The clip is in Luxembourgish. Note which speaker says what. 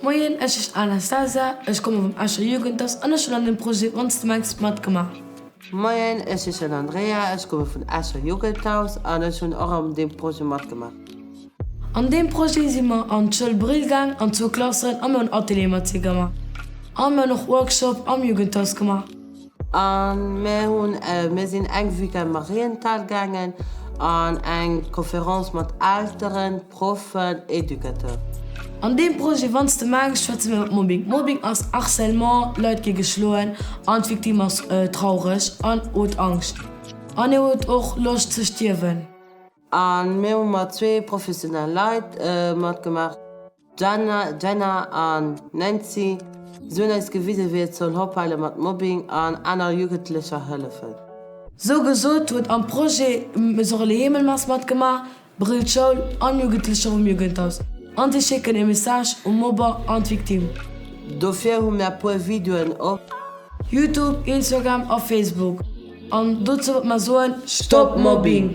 Speaker 1: Moien, ech heeschen Anastasia, ech komme vum Escher Jugendhaus an ech hunn an dem Projet Onst du mengst matgemaach. Moien,
Speaker 2: ech heeschen Andrea, ech komme vun Escher Jugendhaus an ech hunn och an deem Projet matgemaach. An
Speaker 1: deem Projet si mer an d'Schoul Brill gaang, an zwou Klassen, a mir hunn Ateliere mat si gemaach. A mir hunn och Workshop am Jugendhaus gemaach. An
Speaker 2: mär hun, mär sin eng Weekend Marienthal gaangen an eng Conférence mat Elteren, Proffen, Educateur. An deem
Speaker 1: Projet Wanns de mengs schwätze mir iwwer Mobbing. Mobbing ass Harcèlement, Leit gi geschloen an d'Victime ass traureg an huet Angscht an hie huet och Loscht ze stierwen. An
Speaker 2: mär hu mat zwee professionell Leit matgemaach. D'Jana, Jenna an d'Nancy soen eis gewisen, wéi et soll hopeilen mat Mobbing an aner Jugendlecher hëllefen. Sou gesot
Speaker 1: huet am Projet Mesurez le Hemelmass matgemaach, Brill d'Schoul an Jugendlecher vum Jugendhaus an si schécken ee Message um Mobber an d'Victime. Dofir hu
Speaker 2: mir e puer Videoen op. Youtube,
Speaker 1: Instagram a Facebook an dozou wollt mer soen, Stop Mobbing!